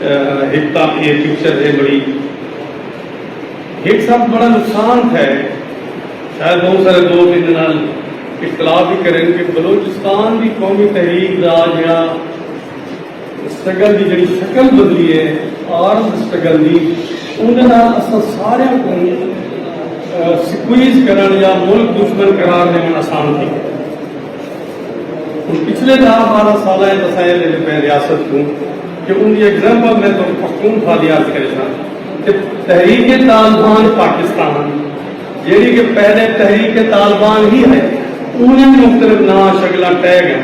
ہک تاں ایہ پکچر ہے بڑی ہک ساتھ بڑا نقصان تھے شاید بہت سارے لوگ ان کے نال اختلاف بھی کریں کہ بلوچستان دی قومی تحریک دا جڑا سٹرگل دی جڑی شکل بدلی ہے آرم سٹرگل دی ان دے نال اساں سارے کو سکویز کرن یا ملک دشمن قرار دینا آسان تھی ہن پچھلے ݙاہ ٻارہاں سالاں اچ وسائل دے ݙتے ریاست کوں جو ان دی ایگزامپل میں تہاکوں پختونخوا دی عرض کریساں کہ تحریک طالبان پاکستان جیڑھی کہ پہلے تحریک طالبان ہی ہئی اونویں وی مختلف ناں شکلاں ٹہہ ڳئن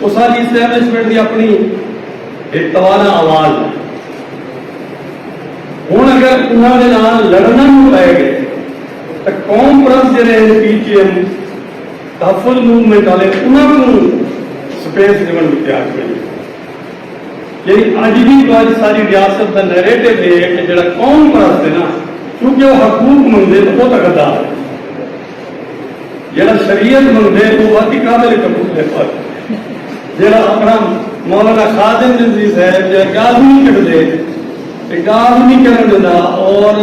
اساݙی اسٹیبلشمنٹ دی اپݨی ہک توانا آواز ہے ہن اگر انہاں دے نال لڑݨا وی پئے ڳئے تاں قوم پرست جیڑھے ہن پی ٹی ایم تحفظ موومنٹ آلے انہاں کوں سپیس ڈیونڑ کیتے آکھیے نے یعنی اج وی جو اج ساری ریاست دا نیریٹو اے ہے کہ جیڑا قوم پرست ہے نا چونکہ او حقوق منگدے تاں او تاں غدار ہے جیڑا شریعت منگدے او واقعی قابل قبول ہے پر جیڑا اپنا مولانا خادم عزیز ہے جیڑا گالھ نہیں کڈ دے گالھ نہیں کرن دیندا اور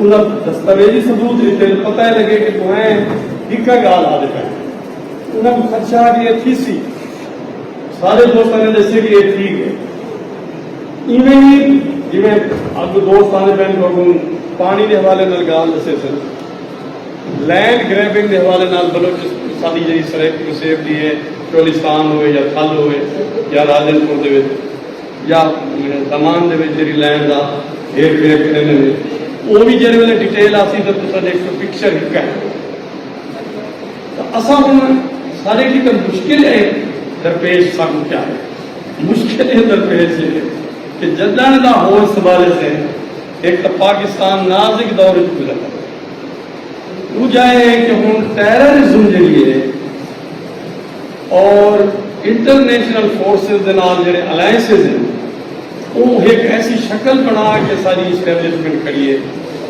انہاں دستاویزی ثبوت ݙتے تاں پتہ لڳے کہ ݙوہیں ہکا ڳالھ آہدے پئے ہن۔ انہاں کوں خدشہ ہا کہ اے تھیسی۔ سارے دوستاں نے ݙسیے کہ اے تھی ڳئے۔ ایویں نی جیویں اڳوں دوست آہدے پئے ہن تہاکوں پاݨی دے حوالے نال ڳالھ ݙسیسن۔ لینڈ گریبنگ دے حوالے نال بلوچ ساݙی جیڑھی سرائیکی وسیب دی اے چولستان ہووے یا تھل ہووے یا راجن پور دے وچ یا سامان دے وچ جیڑھی لائن دا ہیر پھیر کریندے نے او وی جیڑھے ویلے ڈیٹیل آسی تے تساں ڈیکھ سو پکچر ہک ہے اساں ہن سارے کی تے مشکل ہے درپیش سانو کیا ہے مشکل ہے درپیش ہے کہ جدن دا ہور سوال سے ایک تو پاکستان نازک دور وچ گزر رہا دوجا ہے کہ ہن ٹیررزم جڑی ہے اور انٹرنیشنل فورسز دے نال جیڑھے الائنسز ہن او ہک ایسی شکل بݨا کے ساری اسٹیبلشمنٹ کھڑی اے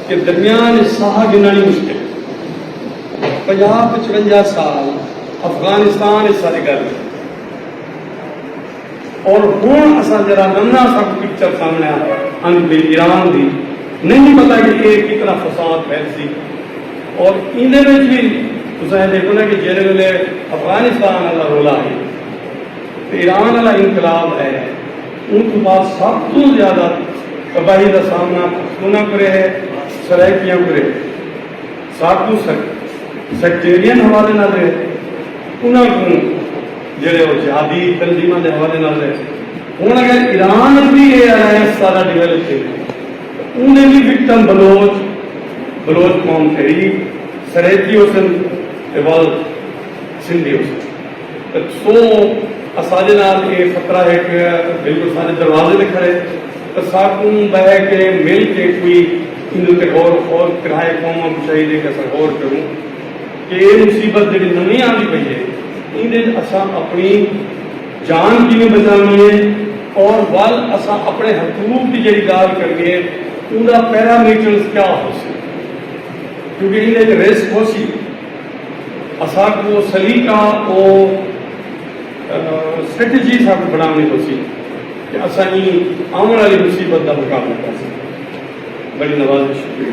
کہ درمیان اچ ساہ گھنݨ ہی مشکل اے۔ پنجاہ پچونجا سال افغانستان اچ سارے گزر گئے۔ اور ہن اساں جیرھا ننگا سک پکچر سامنڑے آن دی ایران دی نئیں پتہ کہ اے کتنا فساد پھیل سی اور ایندے وچ وی تساں اے دیکھو نا کہ جیرھے ویلے افغانستان آلا رولا ہئی تے ایران آلا انقلاب ہے اوں توں بعد سب توں زیادہ تباہی دا سامنا پختوناں کرے ہے سرائیکیاں کرے ہے۔ ساکوں سیکٹیرین حوالے نال ہے انہاں کوں جیڑھے او جہادی تنظیماں دے حوالے نال ہے ہن اگر ایران اچ وی اے الائنس سارا ڈویلپ تھے تاں اوندے وی وکٹم بلوچ بلوچ قوم تحریک سرائیکی ہوسن تے ول سندھی ہوسن۔ سوں اساݙے نال ایہ خطرہ ہک بالکل ساݙے دروازے تے کھڑے تاں ساکوں ٻہہ کے مل کے کوئی ایندے اتے غور و خوض کرائے قوماں کوں چاہیدے کہ اساں غور کروں کہ ایہ مصیبت جیڑھی نویں آندی پئی ہے ایندے اچ اساں اپݨی جان کیویں بچاوݨی ہے اور ول اساں اپݨے حقوق دی جیڑھی ڳالھ کرݨی ہے اوندا پیرامیٹرز کیا ہوسی کیونکہ ایندے اچ رسک ہوسی۔ اساکوں او سلیقہ او سٹریٹجی اساکوں بناونڑی پوسی کہ اساں ایں آونڑ آلی مصیبت دا مقابلہ کرساں۔ بڑی نوازش شکریہ۔